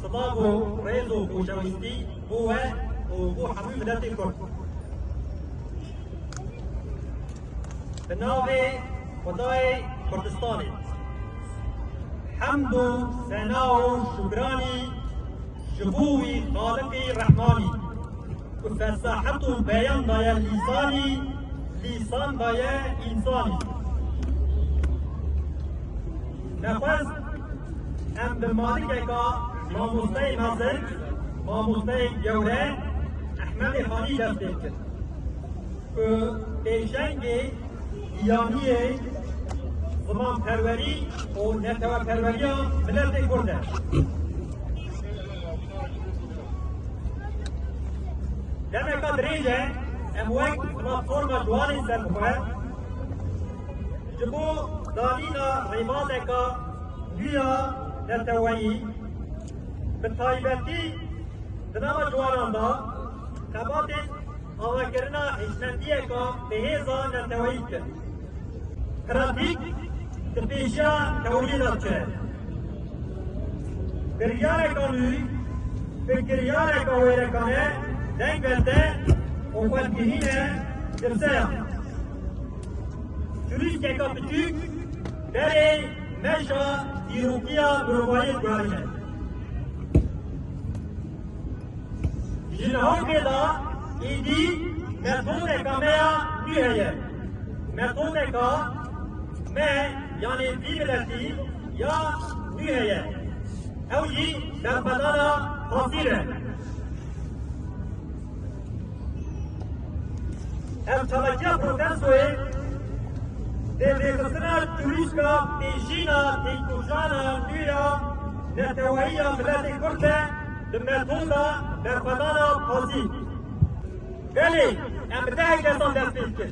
Silav û rêz û xoşewîstî bo we û bo hemû miletên Kurd. Bi navê Xwedayê Kurdistanê hemd û sena û şûkranî ji bo wî Xaliqî Rehmanî ku fesahet û beyan daye lîsanî, lîsan daye însanî. Nexwest em bi malikeka mamosteyê mezin, mamosteyê gewre Ehmedê Xanî dest pê bikin ku pêşengê giyaniyê zimanperwerî û neteweperweriya miletê Kurd e. Demeka dirêj e em wek platforma Ciwanên Serbixwe Ji bo danîna rêbazeka nû ya neteweyî, bi taybetî di nava ciwanan de xebatên avakirina hişmendiyeke bihêz a neteweyî dikin. Pratik di pêşiya teweyî de diçe. Biryareka nû bi kiryareka wêrekane deng vete û xwedbînîne girse ya. Turîsteka piçûk berê meşa dîrokiya mirovahiyê dibarîne. Ji lehokê de êdî metodeka me ya nû heye. Metodeka me yanê vî miletî ya nû heye. Ew jî berxwedana xasîr e. Ev çalakiya protestoyê dê rêxistina çurîşka têjîna têkoşana nû ya neteweyî ya miletê Kurd e bi metoda berxwedana pazî. Belê em bi dehek kesan dest pê dikin.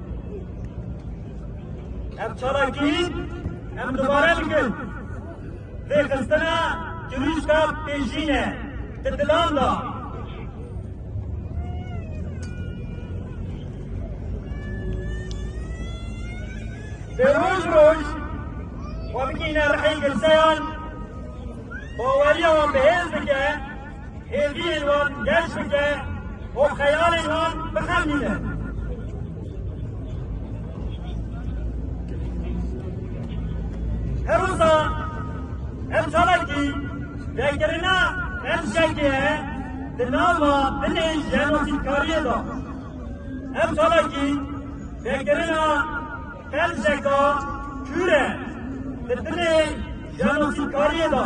Ev çalakî em dubare bikin. Vê xistina cirûşka pêşîne di dilan da. Bi roj roj xwe bikîne rihê girseyan baweriya wan bihêz dike. hêviyên wan geş bike û xeyalên wan bixemîne. Hewsa ev çalakî vekirina ev şekê di nava binê jenosîdkariyê de. Ev çalakî vekirina ev şeka kûr e di binê jenosîdkariyê de.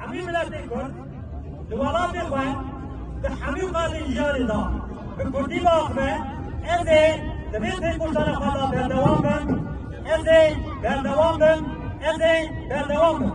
Hemî miletê Kurd li welatê xwe di hemî qadên jiyanê de bi Kurdî biaxive, ez ê di vê têkoşana xwe de berdewam bim, ez ê berdewam bim, ez ê berdewam bim.